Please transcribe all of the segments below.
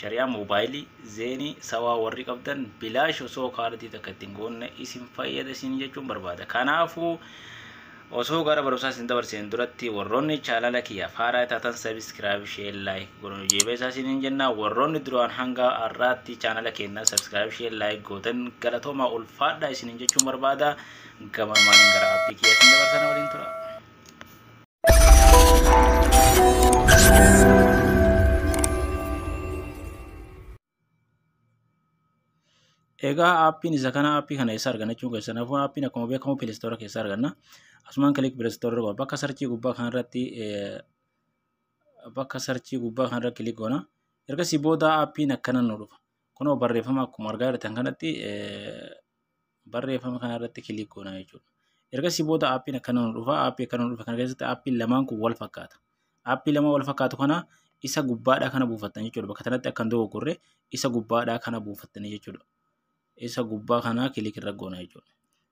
Shari'aa moobaayilii, zeenii, sawaa warri qabdan bilaash osoo kaardii takka ittiin goonne isin fayyada isin jechuun barbaada. Kanaafuu osoo gara barumsaa isin dabarseen duratti warroonni chaanala kiyya faaraa taatan sabiskiraayib shee laayik godhan hojiilee isaa isiniin jenna warroonni duraan hanga har'aatti chaanala keenya sabiskiraayib shee laayik gootan galatoomaa ulfaadhaa isiniin jechuun barbaada gamarmaan gara appii kiyya isin dabarsana waliin tura. Egaa aappiin isa kana aappii kana eessa arganna jechuun keessan hafuun aappiin akkuma beekamu pileestoora keessa arganna. Asumaan kilik pileestoora irra bakka sarchii gubbaa kanarratti bakka sarchii gubbaa kanarra kilik goona. Ergasii booda aappiin akkana nu dhufa. Kunoo barreeffama akkuma argaa jirtan kanatti barreeffama kana irratti kilik goona jechuudha. Ergasii booda aappiin akkana nu dhufa. Aappii akkana nu dhufa kana keessatti aappiin lamaan kun wal fakkaata. Aappii lama wal fakkaatu kana isa gubbaadhaa kana buufattan jechuudha. Bakka kanatti akkan dogoggorre isa gubbaadhaa kana buufattanii jechuudha. Isa gubbaa kana kilik irra goona jechuudha.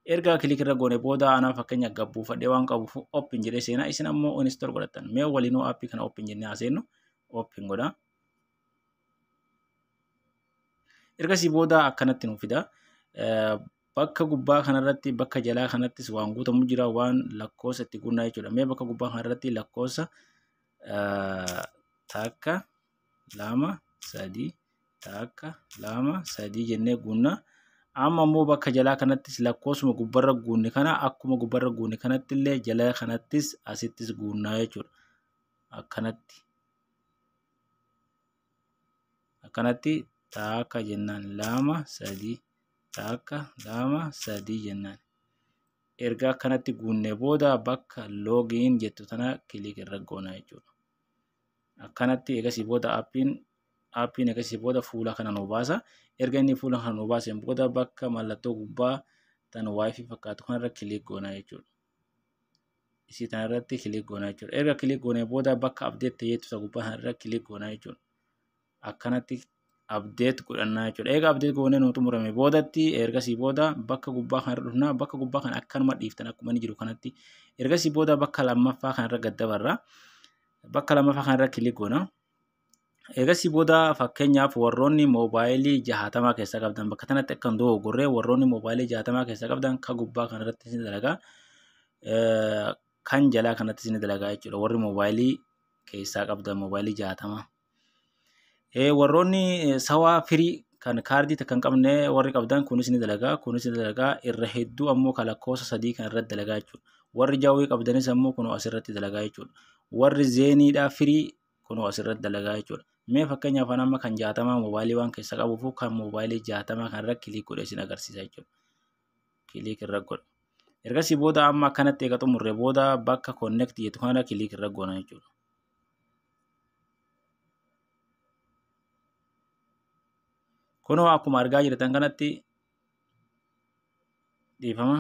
Erga kilik irra goone booda anaa fakkeenya gab buufadhee waan qabuuf open jedhee seenaa isin ammoo install godhattan. Mee waliinuu aappii kana open jennee haa seennu open godhaa. Ergasii booda akkanatti nuuf fida. Bakka gubbaa kanarratti bakka jalaa kanattis waan guutamu jira waan lakkoofsa itti guunnaa jechuudha. Mee bakka gubbaa kanarratti lakkoofsa takka lama sadii takka lama sadii jennee guunnaa. Amma immoo bakka jalaa kanattis lakkoofsuma gubbarra guunne kana akkuma gubbarra guunne kanatti illee jala kanattis asittis guunnaa jechuudha. Akkanatti. akkanatti taakka jennaan lama sadii taakka lama sadii jennaan erga akkanatti guunne booda bakka loogiin jettu tana kiliik irra goona jechuudha. Akkanatti eegasii booda appiin appiin eegasii booda fuula kana nu baasa. Erga inni fuula kana nu baaseen booda bakka mallattoo gubbaa tan waayifii fakkaatu kanarra kiliik goona jechuudha. isii tana irratti kilik goonaa jechuudha. Erga kilik goonee booda bakka abdeet ta'ee tusa gubbaa sana irra kilik goonaa jechuudha. Akkanatti abdeet godhannaa jechuudha. Eega abdeet goonee nuu xumurame boodatti ergasii booda bakka gubbaa kana irra dhufnaa bakka gubbaa kana akkanuma dhiiftan akkuma inni jiru kanatti ergasii booda bakka lammaffaa kana irra gad dabarra. Bakka lammaffaa kana irra kilik goonaa. Eegasii booda fakkeenyaaf warroonni moobaayilii jahaatamaa keessaa qabdan bakka kanatti akka hin dogoggorre warroonni moobaayilii jahaatamaa keessaa qabdan ka gubbaa kanarratti isin dalagaa kan jalaa kanatti isin dalagaa jechuudha warri moobaayilii keessaa qabdan moobaayilii jahaatamaa. Warroonni sawaa firii kan kaardii takka hin qabne warri qabdan kunis ni dalagaa kunis ni dalagaa irra hedduu ammoo kan lakkoofsa sadii kan irratti dalagaa jechuudha. Warri jawwee qabdanis ammoo kun asirratti dalagaa jechuudha. Warri zeeniidhaa firii kunoo asirratti dalagaa jechuudha. Mee fakkeenyaaf an amma kan jaatamaa moobaayilii waan keessa qabuuf kan moobaayilii jaatamaa kanarra kiliik godhee isin agarsiisa jechuudha. Kiliik irra godha. Ergasii booda amma akkanatti eega xumurre booda bakka connect jettu kanarra kiliik irra goona jechuudha. Kunoo akkuma argaa jirtan kanatti dhiifama.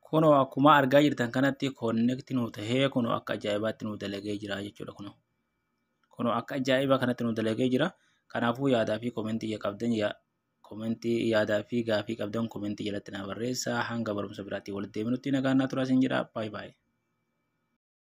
Kunoo akkuma argaa jirtan kanatti connect nu tahee kunoo akka ajaa'ibaatti nu dalagee jira jechuudha kunoo. Kunoo akka ajaa'ibaa kanatti nu dalagee jira. Kanaafuu yaadaa fi komentii qabdan komentii yaadaa fi gaafii qabdan komentii jalatti naa barreessaa hanga barumsa biraatti walitti deebinutti nagaan naa turaa isin jedha. Baay'ee baay'ee.